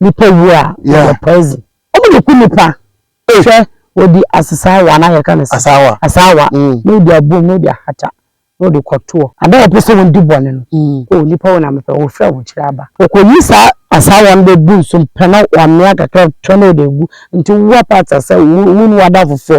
nipa wu a Yeah. wɔyɛ poison ɔmo de ku nipa Hey. hwɛ wɔde asesaawa anaa yɛka no sɛ Asaawa. asaawa Mm. na ɔde abom na ɔde ahata na ɔde kɔtoɔ ada wɔpɛ sɛ wɔn di bɔne no Mm. o nipa wɔn amepɛ wɔfiri a wɔkyerɛ aba wɔkɔyi saa asaawa no bɛbu nso mpɛ na wɔamea kakra twa na ɔde agu nti wowa paata sɛ wo wo ne wada fofoɔ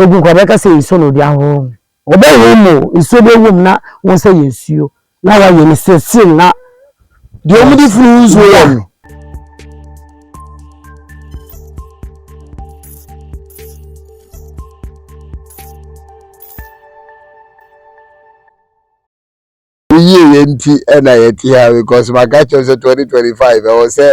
Egu nkwa bɛka sɛ nsuo na ɔde ahohoro ho. Ɔbɛhohoro mu o, nsuo bɛ wom na wɔn sɛ yɛ nsuo. Na wayɛ no siresirim na. Deɛ wɔn de funu nsuo yɛ no. Wo yieyɛ nti na yɛte ha because maka kyerɛ wo sɛ 2025 ɛwɔ sɛ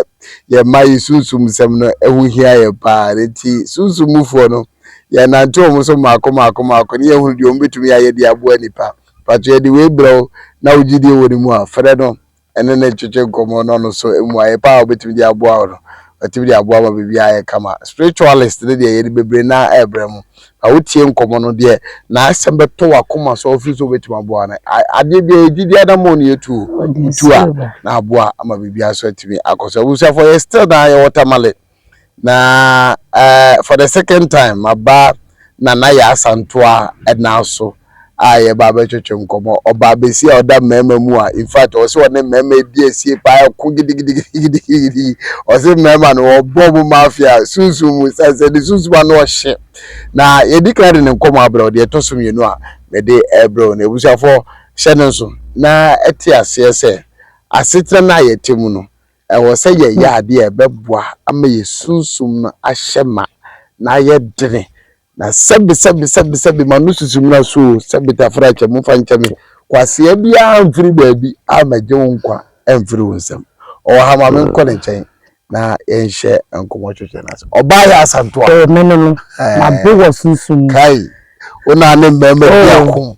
yɛma yi sunsum nsɛm no ɛho hia yɛn paa ne nti sunsum mufoɔ no yɛnante wɔn so mmaako mmaako mmaako ne yɛhunu deɛ wɔn bɛtumi ayɛ de aboa nipa mpakyɛ yɛde wei brɛ wo na wo gyidie wɔ ne mu a frɛ no ɛne ne ntwetwe nkɔmmɔ na ɔno nso mmuaeɛ paa a ɔbɛtumi de aboa wo no watumi de aboa ma biribiara ayɛ kama spiritualist ne deɛ yɛde bebree naa ɛrebrɛ mo Na wotie nkɔmmɔ no deɛ, n'asɛm bɛtɔ w'akoma so a wofiri sɛ wobɛtumi aboa no. Adeɛ biara yɛ gyidie anammɔn na yɛtu o. Wotu a, na aboa ama biribiara so atumi akɔ so. Abusuafoɔ, yɛ still na yɛwɔ Tamale. Na eh, for the second time, maba Nana Yaa Asantoa nan so. a yɛba abɛtwetwe nkɔmmɔ. Ɔbaa besia a ɔda mmarima mu a in fact ɔse ɔne mmarima adi asie paa ɛko gidigidigidigidi. Ɔse mmarima no wɔbɔ ɔmo mafia sunsum mu sane sɛ ne sunsum ano ɔhye. Na yɛdi kan de ne nkɔmmɔ abrɛ wo, deɛ ɛtɔ so mmienu a mede ɛrebrɛ wo no. Abusuafoɔ hyɛ no nso na ɛte aseɛ sɛ asetena no a yɛte mu no ɛwɔ sɛ yɛyɛ adeɛ a ɛbɛboa ama yɛn sunsum no ahyɛ ma na ayɛ dene Na sɛbe sɛbe sɛbe sɛbe ma no susu mmra so o sɛbe tafra kyɛ mo mfa nkyɛ me kwasea biara mfiri baabi a mɛgye wo nkwa mfiri wo nsam ɔwɔ ha ma me nkɔ ne nkyɛn na yɛnhyɛ nkɔmmɔ twetwe no ase ɔbaa yɛ asantoa ɛɛ me no no mabo wɔ sunsum mu kai wo na ne mmarima bi ako.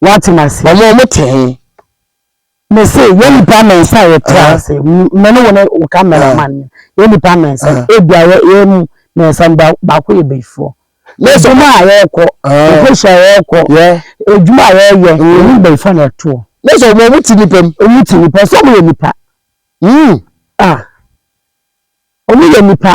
Woate me ase? Wɔn a wɔte he? Mese, yɛ nnipa mmeɛnsa a yɛte ase, me ne wo ne wo cameraman no, yɛ nnipa mmeɛnsa, ebia yɛ mu mmeɛnsa no baako yɛ bayifoɔ. Adwuma a yɛrekɔ, nkɔhyia a yɛrekɔ, adwuma a yɛreyɛ, ɛmu bayifoɔ na ɛtoɔ. Na sɛ wɔn a wɔte nnipa mu? Wɔn te nnipa, sɛ wɔyɛ nnipa. Hmm. Ah. Wɔyɛ nnipa.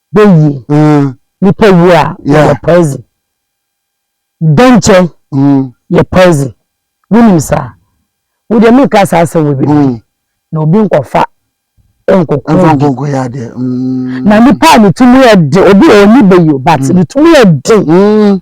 bɛ wu o. Nipa wu a yɛ yɛ poison. Dɛnkyɛn yɛ poison. Wo nim saa? Wo deɛ me nka saa asɛm wɔ bi no. Na obi nkɔ fa nkɔ kɔ obi. Nkɔ nkɔ yɛ adeɛ. Na nipa a ne ti mu yɛ den obi a ɔni bɛ yi o but ne ti mu yɛ den.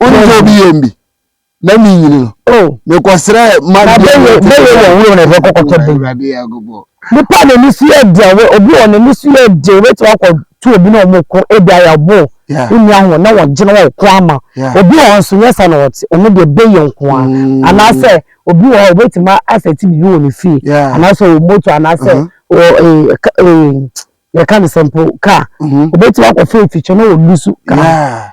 wone tɔ bi yɛm bi na menyini no oh. mekɔsrɛ mabɛyɛ wɔ wuro na ɛfɛ kɔkɔtɔ bi nipa na ani so yɛ deɛ obi wɔ na ani so yɛ deɛ wobɛtumi akɔto obi na ɔmo ko ebi ayɛ bo wonni ahoɔ na wɔgyina wɔ ko ama obi wɔ nso nyɛ sa na ɔte ɔno deɛ bɛyɛ nko a mm. anaasɛ obi wɔ hɔ obɛtumi asɛ ti biribi wɔ ne fie anaasɛ wɔ moto anaasɛ uh-huh. wɔ eh, eh, yɛka ne sɛ mpo kaa obɛtumi akɔ fɛ fikyɛ na wɔlusu kaa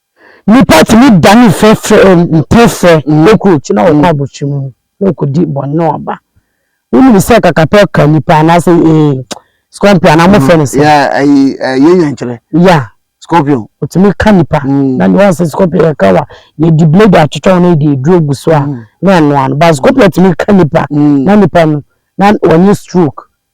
Nnipa tumi dane fɛfrɛ mpefrɛ cockroach na wɔkɔ abotiri mu na wɔkɔdi bɔne na wɔba. Wonim sɛ kakapɛ ka nnipa anaasɛ ee scorpion anaa mofrɛ no sɛ. Ayi ɛyɛ nyankyerɛ. Ya. Scorpion. Wɔtumi ka nnipa. Na deɛ wɔn sɛ scorpion yɛ ka wa yɛdi blade atwitwa wɔn na yɛde aduro agu so a na ɛnoa no but scorpion tumi ka nnipa na nnipa no na wɔnyɛ stroke.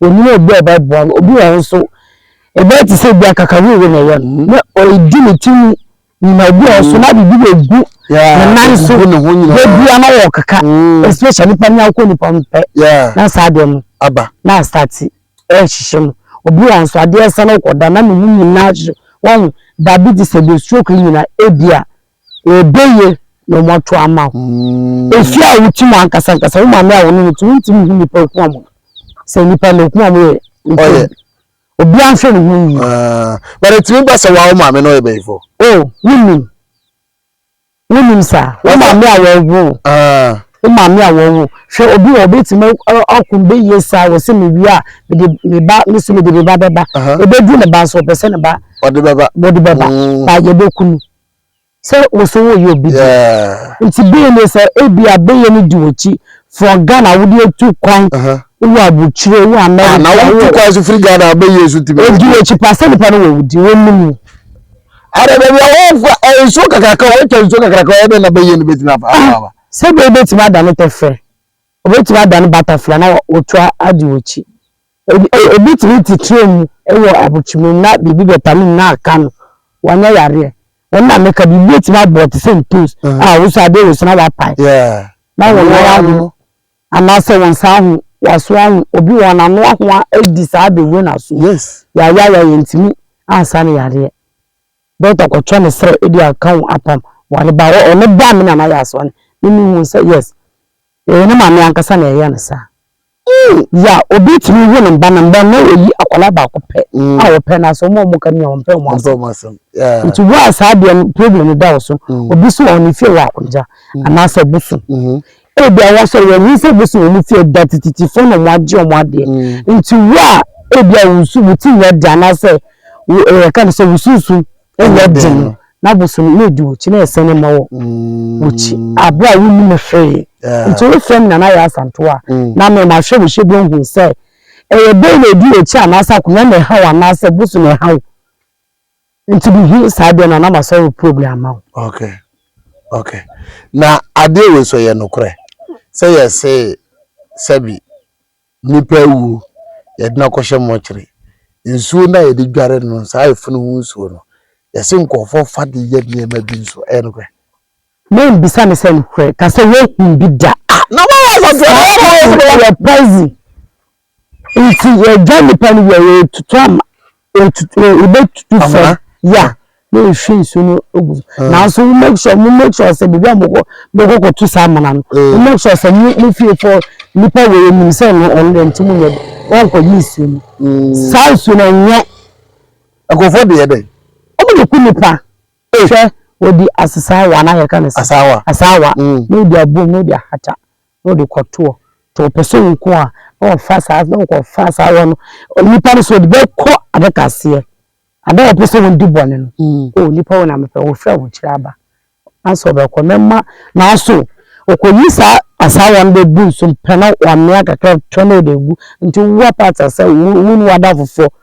Wɔnim obi a ɔbɛboa no. Obi wɔ hɔ nso, ɛbɛyɛ te sɛ bi akakawuwu na ɛyɛ no, na ɔredi ne ti mu nyina. Obi wɔ hɔ nso, na biribi na ɛgu ne nan so, bɛbia na wɔkeka, mm. especially nipa ne akɔ nipa no pɛ, na saa adeɛ no aba na asate ɛrehyehye no. Obi wɔ hɔ nso, adeɛ ɛsɛ na ɔkɔda na ne mu nyinaa hyehye wɔn diabetes ɛde stroke nyina ebia Ebeye na ɔmo ato ama wo. Efi a wokyi mo ankasa ankasa, wo maame a wone no te, wontumi nhu nnipa akuma mu. Sɛ nnipa no akuma mu yɛ ntɛm a, obiara nhwɛ ne ho yie. But etumi ba sɛ wo ara wo maame no ɔyɛ bɛyifo? Oh, wonnim. Wonnim saa. Wo maame a wɔwoo wo. Wo maame a wɔwoo wo. Hwɛ obi wɔ obetumi ɔko no bɛyie saa, wɔse mewie a, mede me ba, me so mede me ba bɛba. Ebedu ne ba nso, ɔpɛ sɛ ne ba. Ɔde bɛba. Ɔde bɛba. Ba yɛbɛku no. sɛ wo so woyɛ obi de nti bɛyɛ ne sɛ ebi a bɛyɛ ne di wɔkyi from Ghana wode atu kwan wowɔ abukyire wɔ America na wotu kwan so firi Ghana a bɛyɛ so ti bɛdi wɔkyi pa sɛ nipa no wɔ wodi wɔnim wo ada baabi a wɔfa eh, nsuo kakraka wɔatwa nsuo kakraka wɔyɛ dɛ na bɛyɛ no bɛtumi afa afa sɛ bɛyɛ bɛtumi ada no tɛfrɛ wɔbɛtumi ada no butterfly na wɔtu adi wɔkyi Obi tumi te train mu wɔ abokyemɛ mu na biribi bɛpane no na aka no, wanyɛ yareɛ. Ɛno na meka, biribi bɛtumi abɔ wo te sɛ ntos a wo sɛ adeɛ wɔ so na woapae. Na wo nan aho anaasɛ wo nsa aho, w'aso aho. Obi wɔn ano aho adi saa abɛwura n'aso mu. Yɛayɛayɛ yɛntumi ansa no yareɛ. Dɔkta kɔtwɛ ne serɛ de aka wo apam. Wɔde ba hɔ, ɔno baa me na no ayɛ asoɔden. Me mehuu sɛ yes, ɛyɛ ne maame ankasa na ɛyɛ no saa. Ii, Dza obi tumi wo ne ba no mbrɛ na oyi akwadaa baako pɛ a wɔpɛ na sɛ wɔn a wɔka no nyina wɔmpɛ wɔn asɛm. Ntsi wo a saa deɛ no problem no da wo so, obi so wɔ ne fie wɔ Akwagya anaasɛ Bosom, ebia wɔasɔre a wɔnhu sɛ Bosom wɔ ne fie da tititifoɔ na wɔagye wɔn adeɛ. Ntsi wo a ebia wo su wo ti nyɛ dɛ anaasɛ wo yɛka no sɛ wo sunsum Ɛnyɛ den no, n'abosome yɛ di w'akyi na ɛsɛne mma wɔ w'akyi bere a wunni me hwee. Enti worefrɛ me Nana Yaa Santow a, na me mahwɛ wo hwɛ bi ahu sɛ ɛyɛ dɛn na edi w'akyi anaasɛ akonnwa na ɛha wo anaasɛ bo so na ɛha wo. Enti mihu saa deɛ no a na masɔre program ama wo. Okay. Okay. Na adeɛ wei so yɛ nokorɛ sɛ yɛsee sɛbi Nnipa awuo, yɛde no akɔhyɛ mɔkyere. Nsuo no a yɛde dware no, saa efunu ho nsuo no, yɛse nkurɔfoɔ fa de yɛ nneɛma bi nso. Ɛyɛ nokorɛ? Mɛmmisa no sɛ nokorɛ, ka sɛ woahunu bi da. Ah, na woayɛ asaseɛ no ara na ɛyɛ poison nti yɛgya nnipa no wie a, yɛtutu ama. Yɛbɛtutu fam ya na yɛhwie nsuo no gu so nanso mo make sure mo make sure sɛ baabi a mokɔ mokɔ kɔtu saa amena no mo make sure sɛ mo mo fie fo nipa wɔ yɛ nim sɛ no ɔno deɛ nti mo nyɛ wɔnkɔgye nsuo no saa nsuo no nyɛ nkurɔfoɔ deɛ dɛ wɔn de ku nipa hwɛ wɔdi asesaawa na yɛka no sɛ asaawa na wɔdi abom na wɔdi ahata na ɔde kɔ toɔ nti ɔpɛ sɛ ɔko a na ɔfa saa na ɔkɔ fa saa wɔ no onipa no so ɔde bɛkɔ adaka aseɛ ada a ɔpɛ sɛ ɔdi bɔne no mm. o nipa wɔ na mepɛ wɔfiri ahokyerɛ aba asɛ ɔbɛkɔ mɛma naaso ɔkɔyi saa asaa wɔn bɛgu nso mpɛ na wɔamea kakra tɔ na ɔde gu nti wowa paata sɛ wone wada fofoɔ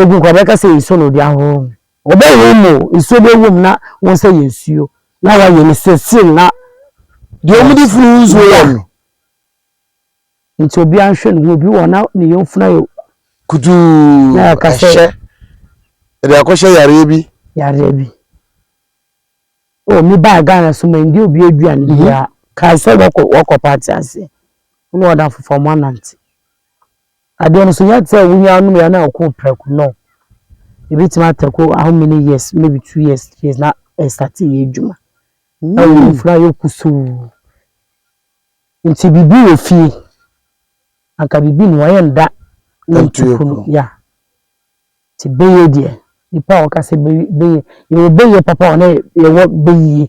Egu nkwa bɛka sɛ nsuo na ɔde ahohoro ho. Ɔbɛhohoro mu o, nsuo bɛwɔ mu na wɔn nsa yɛ nsuo na wɔayɛ no sɛ film na. Deɛ wɔde firi ho nsuo yɛ no. Nti obiara nhwɛ ne ho, obi wɔ hɔ na ne yɔnfunu ayɛ kutuu, na yɛaka sɛ. Ɛhyɛ, ɛde akɔhyɛ yareɛ bi. Yareɛ bi. O, me baa Ghana so ma ndi obi aduane mhm. biara. Kae sɛ wɔkɔ wɔkɔ paati aseɛ, wɔn na wɔda foforɔ wɔn anante. Adeɛ no so yɛte a wonya anom yɛ na ɔkɔ prɛko no ebi tumi atɛko how many years maybe two years three years na ɛsate yɛ adwuma na wɔn mfura hmm. yɛ kusuu nti biribi wɔ fie anka biribi na wɔyɛ nda na ntuku no ya te bɛyɛ deɛ nipa a wɔka sɛ bɛyɛ yɛwɔ bɛyɛ papa wɔn yɛwɔ bɛyie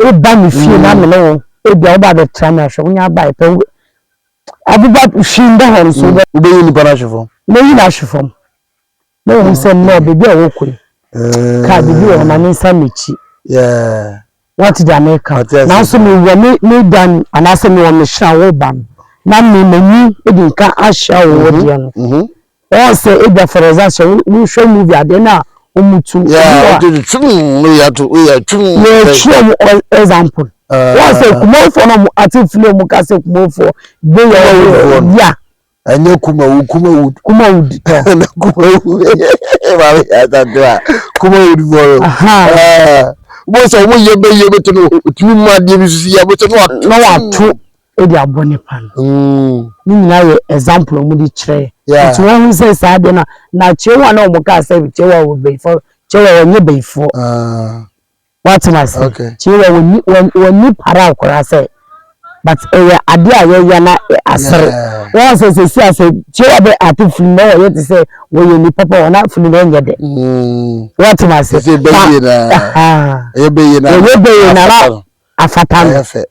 Woba me fie na me ne wo ebi a woba bɛtra me ahwɛ wonya abae pɛ wo abuba hwi mbɔ hɔ nso wobɛ. Wobɛyi nipa no ahwe fam. Mɛyi no ahwe fam na wɔhu sɛ nnɛ baabi a wɔkɔ yi kaa biribi wɔ hɔ ma ne nsa m'akyi. Wate deɛ meka nanso mewɔ me me dan anaasɛ mewɔ me hyerɛn a woba no na me m'ani de nka ahyia wo wo deɛ no Wɔn sɛ ebia for example sɛ wohwɛ movie adeɛ na wɔn tu. Yeah, wɔn tu tum no yɛ ato yɛ tum. Yɛ twerɛ wɔn example. Wɔn sɛ kumafo na wɔn ate fili wɔn ka sɛ kumafo de yɛ wɔn ya. Ɛnyɛ kumawu kumawu. Kumawu di tɔ. Ɛna kumawu maame yɛ atadwo a kumawu di bɔrɔ. Wɔn sɛ wɔn yɛ bɛ yɛ bɛ tɛ no tumi mu adeɛ bi sisi yɛ bɛ tɛ no ato. Na wɔn ato. Odi aboɔ ne pan. Ne nyinaa yɛ example a wɔn de kyerɛ yɛ. Yeah. Nti wɔn ho sɛ saa adeɛ no a na kyewa na wɔn kaa sɛ kyewa wɔ bɛyifoɔ kyewa wɔn nyɛ bɛyifoɔ. Ah. Wate na se. Okay. Kyewa wɔn ni wɔn wɔn ni para akora sɛ but ɛyɛ adeɛ a yɛyɛ na asere. Yeah. Wɔn sɛ sɛ si ase kyewa bɛ ate funu na wɔyɛ te sɛ wɔyɛ nipa pa wɔn afunu na ɛnyɛ dɛ. Mm. Wate na se. Ɛsɛ bɛyie na. Ɛyɛ bɛyie na. Ɛyɛ bɛyie na na afata no. Ɛyɛ fɛ.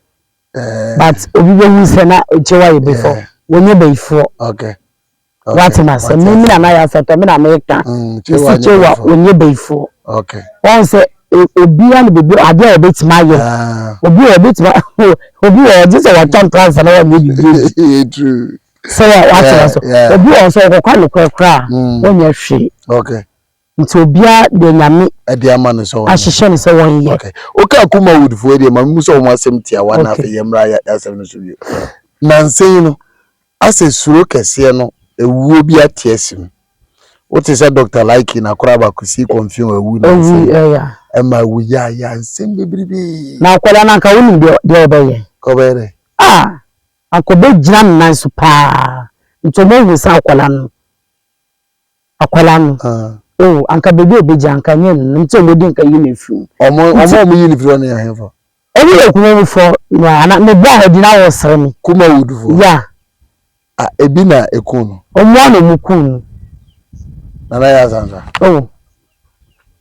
but obi bɛhu sɛ na ɛkyɛ wa yɛ before wɔnyɛ bayifoɔ wate na sɛ me mina na yɛ asɛtɔ me na meka ɛsi kyɛ wa wɔnyɛ bayifoɔ wɔn sɛ obiara ne biribi adeɛ a ɔbɛtumi ayɛ obi wɔ ɔbɛtumi obi wɔ ɔgye sɛ wɔtɔ ntoansa na wɔnyɛ biribi sɛ wɔatena so obi wɔ sɛ ɔkɔkɔ anokorɛ koraa wɔnyɛ hwee Nti obiara deɛ Nyame ɛde ama no sɛ ɔnyɛ. ahyehyɛ no sɛ wɔnyɛ. Ok, wokaa Kuma Wood foɔ deɛ, ma me mu sɛ wɔn asɛm tiawa na afei yɛmmra yɛ asɛm no so bio. Nansa yi no, asɛ suro kɛseɛ no awuo bi ate asi mu. Wote sɛ Doctor Likey na Kora Abakusi kɔmfin wɔ awu nansa yi. Awu, ɛya. Ɛma awu yaayaa nsɛm bebrebee. Na akwadaa no anka wonim deɛ, deɛ ɔbɛyɛ. Ɔbɛyɛ dɛn? Ah! Anka ɔbɛgyina ne nan so paa. Nti wɔahu sɛ akwadaa no. Akwadaa no oh anka baby a obegye anka nye no no nti a wɔn di nka yi na efiri mu. Ɔmo ɔmo a ɔmo yi no firi hɔ no yɛ ahenfo? Ɔmo yɛ Kumawu fɔ na ana me baa ha bi na wɔresere me. Kumawood fɔ? Yeah. Ah ebi na eku no? Ɔmo a na ɔmo ku no. Nana Yasansa. Oh.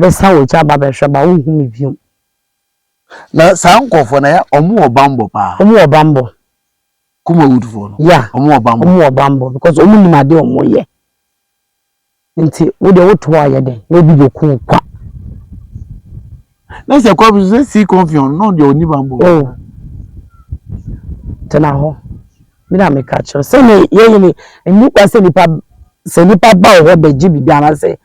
bɛsa w'akyi aba abɛhwɛ ba wonhu me bio. Na saa nkurɔfoɔ no yɛ wɔn wɔ bammɔ paa. Wɔn wɔ bammɔ. Kumawudfoɔ no. Yeah. Wɔn wɔ bammɔ. Wɔn wɔ bammɔ because wɔn nim adeɛ a wɔn yɛ. Nti wo deɛ woto hɔ ayɛ dɛn na obi bɛku wo kwa. Na sɛ kɔbi sɛ si kɔnfiɔn na ɔdeɛ ɔni bammɔ. O oh. tena hɔ mi na meka kyerɛ sɛ ne yɛyɛ ne nnipa sɛ nipa sɛ nipa ba wɔ hɔ bɛgye biribi anaasɛ.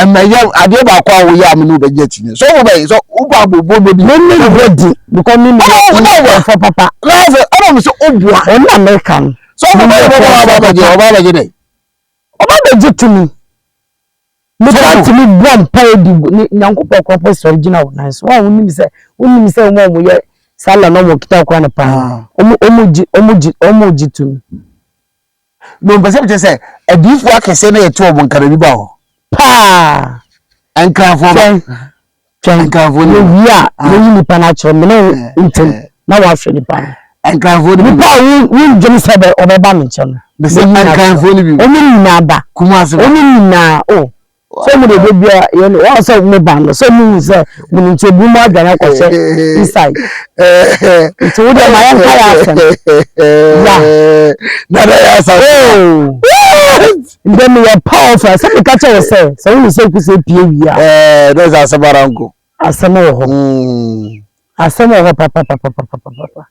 ɛmɛ yɛ adeɛ baako a woyɛ a me ne wo bɛgye akyi ne sɛ wobɛyɛ sɛ wobɔ abobo no bi na ne yɛ di because me ne fɔ papa na sɛ ɛna me sɛ woboa ɛna me ka no sɛ wobɛyɛ bɛbɔ aba abɛgye ɔba abɛgye dɛ ɔba abɛgye tumi meka tumi bɔ mpa adi nyankopɔn kora pɛ sɔre gyina wo nan so a wonim sɛ wonim sɛ wɔn a wɔyɛ sala na wɔn kita kora no paa wɔn wɔn gye wɔn gye wɔn gye tumi No, mpɛ sɛ mekyerɛ sɛ adiyifoɔ akɛseɛ na yɛte wɔn nka baabi ba hɔ. Paa. Nkranfoɔ ba. Twɛn. Nkranfoɔ no. Yɛwie a, yɛyi nipa no akyerɛ mene ntɛm na wɔahwɛ nipa no. Nkranfoɔ no bi. Nipa a wondwene sɛ ɔbɛba me nkyɛn no. Bɛsɛ nkranfoɔ no bi. Wɔn nyinaa ba. Kumase ba. Wɔn nyinaa o. Sɛ mo deɛ bia yɛn wɔn sɛ mo ba no sɛ mo hu sɛ mo no nti ebi mo adwane akɔ sɛ inside nti wo deɛ ma yɛn ka yɛ asɛm ya dada yɛ asɛm ndɛ mi yɛ paul fɛ sɛ mi ka kyɛ wɔ sɛ sɛ wo hu sɛ kusi epie wia ɛɛ dɛ sɛ asɛm ara nko asɛm wɔ hɔ asɛm wɔ hɔ papapapapapapa.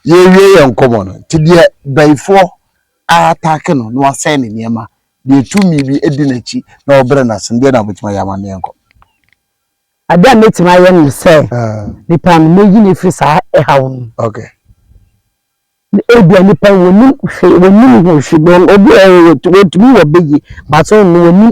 Yɛrewie yɛn nkɔmmɔ no, nti deɛ bayifoɔ aatake no na wasɛe ne nneɛma, deɛ tumi bi di n'akyi na ɔbrɛ no ase no, deɛ na wobɛtumi ayɛ ama no yɛnkɔ? Adeɛ a mɛtumi ayɛ ne sɛ, nipa no mɛyi no afiri saa ɛhaw no mu. Ebia nipa no wɔnim hwee, wɔnim ho hwee, obi wɔ hɔ a wɔtumi wɔ bɛyie but ɔno wɔnim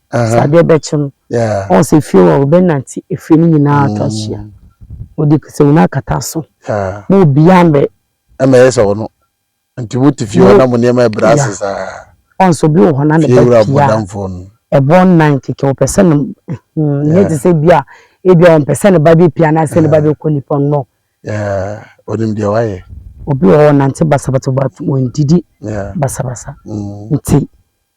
sɛ adeɛ bɛkye no ɔhu sɛ fie hɔ wobɛnante efie no nyinaa atɔ ahyia mm. wode kasɛmu no akata so ma obiaa mbɛ ɛma ɛyɛ sɛ ɔno nti wote fie hɔ na mo nneɛma ɛbrɛ ase saa ɔnso bi wɔ hɔ na ne ba pia ɛbɔ nnan keke wɔpɛ sɛ no hmm, nyɛ te sɛ bi a ebi a wɔmpɛ sɛ ne ba bɛpia anaasɛ ne ba bɛkɔ nipa no ɔnim deɛ wayɛ obi wɔ hɔ nante basabasa wɔndidi basabasa mm. nti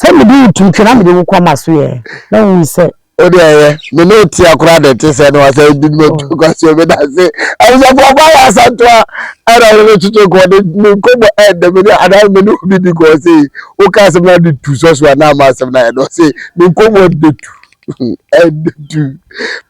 Sɛ mede wo tu twi na mede wo kɔ m'aso ɛ, na wohu sɛ. Wo deɛ yɛ, me ne wo tea koraa na ɛte sɛ na wasa adi ne matu kwasuo me dase. Abusafo ɔba yɛ asantoa ɛna ne ne twetwe kɔ ne ne nkɔmmɔ ɛdɛ me ne anaa me ne obi di kɔ sei. Wo ka asɛm na de tu sɔso anaa ma asɛm na ɛdɔ sei. Ne nkɔmmɔ ɛdɛ tu. Ɛdɛ tu.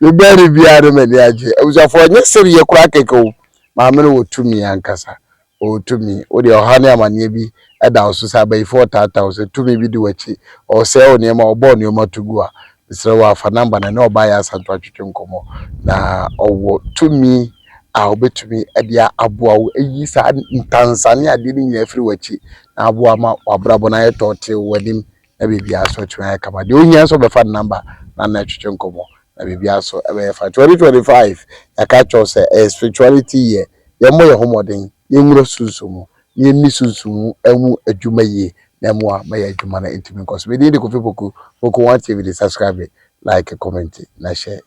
Me bɛre biara ne m'ani agye. Abusafo ɔnyɛ sereɛ koraa kɛkɛ o. Maame no wɔ tumi ankasa. O tumi, wo deɛ ɔhaw ne amaneɛ bi da wo so, sɛ abayifoɔ taataa wo, sɛ tumi bi di w'akyi, ɔsɛe wo nneɛma, ɔbɔ wo nneɛma to gu a, mesrɛ wo ara fa number no, ɛne ɔbaa yɛ asantew atwetwe nkɔmmɔ, na ɔwɔ tumi a ɔbɛtumi de aboa wo ayi saa ntansa ne adeɛ no nyinaa afiri w'akyi, na aboa ama w'abrabɔ no ayɛ tɔɔtee wɔ w'anim, na biribiara nso atumi ayɛ kama. Deɛ ohia nso ɔbɛfa ne number na na atwetwe nkɔmmɔ, na biribiara nso ɛbɛyɛ fine. 2025, yɛaka akyerɛ wo sɛ ɛyɛ spirituality year, Yɛmmɔ yɛn ho mmɔden, yɛnwura sunsum mu, na yɛnni sunsum mu mu adwuma yie na ɛmmoa ma yɛn adwuma no ntumi nkɔ so. Me din de Kofi Poku, Poku One TV de subscribe, like, comment na share.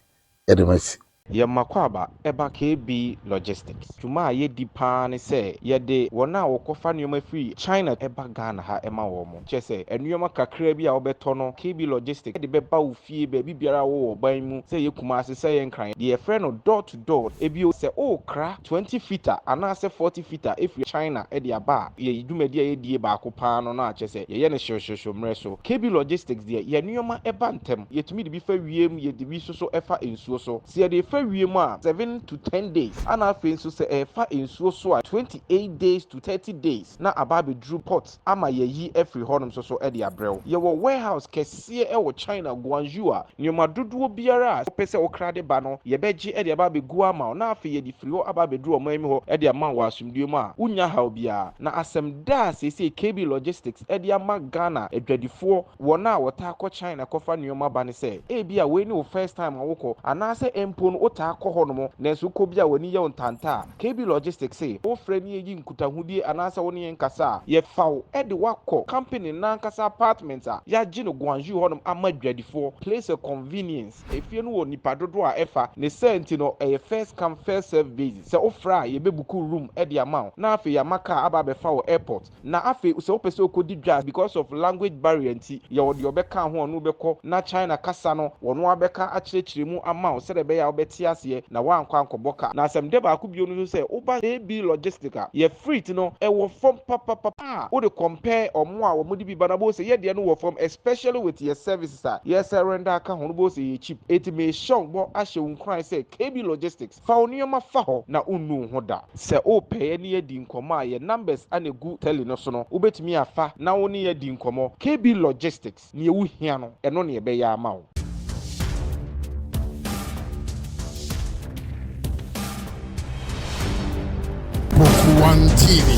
Yɛde mo asi. Yɛ Mmakwaba ba KB Logistics. Dwuma a yɛdi pa ara ne sɛ yɛde wɔn a wɔkɔfa nneɛma firi China ba Ghana ha ma wɔn. Kyerɛ sɛ, nneɛma kakraa bi a wobɛtɔ no KB Logistics de bɛba wo fie, baabi biara wɔ ɔban mu, sɛ ɛyɛ Kumasi, sɛ ɛyɛ Nkran, deɛ yɛfrɛ no door to door. Bio, sɛ worekra twenty fita anaasɛ forty fita afiri China de aba a, yɛn dwumadi a yɛdie baako pa ara no na kyerɛ sɛ yɛyɛ no hyerehyerehyew mmerɛ so. KB Logistics deɛ, yɛn nneɛma ba ntɛm. Yɛtumi de bi fa wiem, yɛde bi nso so fa nsuo so. Sɛ yɛde refa wiem a, seven to ten days, ɛna afei nso sɛ ɛrefa nsuo so a, twenty eight days to thirty days na aba abɛduru port. ama yɛayi afiri hɔnom nso so de abrɛ wo. Yɛwɔ warehouse kɛseɛ wɔ China, Guangzhou a nneɛma dodoɔ biara a wopɛ sɛ wokra de ba no, yɛbɛgye de aba abɛgu ama wo na afei yɛde firi hɔ aba abɛduru ɔman mu hɔ de ama wo wɔ asomdwoeɛ mu a wonnya haw biara. Na asɛm da a seesei KB Logistics de ama Ghana adwadifoɔ, wɔn a wɔtaa kɔ China kɔfa nneɛma ba no sɛ, ebia wei ne wo first time a wokɔ, anaasɛ mpo no wotaa kɔ hɔnom nanso wokɔ bi a w'ani yɛ wo ntanta a, KB Logistics se, Wofrɛ ne yɛyi nkutahodie anaasɛ wo ne yɛn kasa a, yɛfa wo de wo akɔ company no ankasa apartment a yɛagye no Gwangju hɔnom ama adwadifoɔ, place a convenience. Efie no wɔ nnipa dodoɔ a ɛfa, ne saa nti no ɛyɛ first come first serve basis, sɛ wofrɛ a yɛbɛbuku room de ama wo na afei yɛama kaa aba abɛfa wo airport. Na afei sɛ wopɛ sɛ wokɔdi dwa because of language barrier nti, yɛwɔ deɛ ɔbɛka ho a ɔne wo bɛkɔ na China kasa no ɔno ara bɛka akyerɛkyerɛ mu ama wo sɛdeɛ ɛbɛyɛ a wobɛte aseɛ na woankɔ ankɔbɔ ka. Na asɛmdɛ baako bio no nso sɛ woba AB Logistic a, yɛ freight no ɛwɔ fam papapapa a wode compare wɔn a wɔde bi ba no a wobɛhu sɛ yɛ deɛ no wɔ fam especially with yɛ services a yɛsɛ render aka ho no wobɛhu sɛ ɛyɛ cheap. Enti mehyɛ wo bɔ ahyɛ wo nkuran sɛ KB Logistic, Fa wo nneɛma fa hɔ na wonnu wo ho da. Sɛ wopɛ yɛ ne yɛadi nkɔmmɔ a, yɛn numbers na ɛgu tele no so no, wobɛtumi afa na wo ne yɛn adi nkɔmmɔ. KB Logistics, neɛ wo hia no, ɛno na yɛbɛyɛ ama wo. Poku One TV.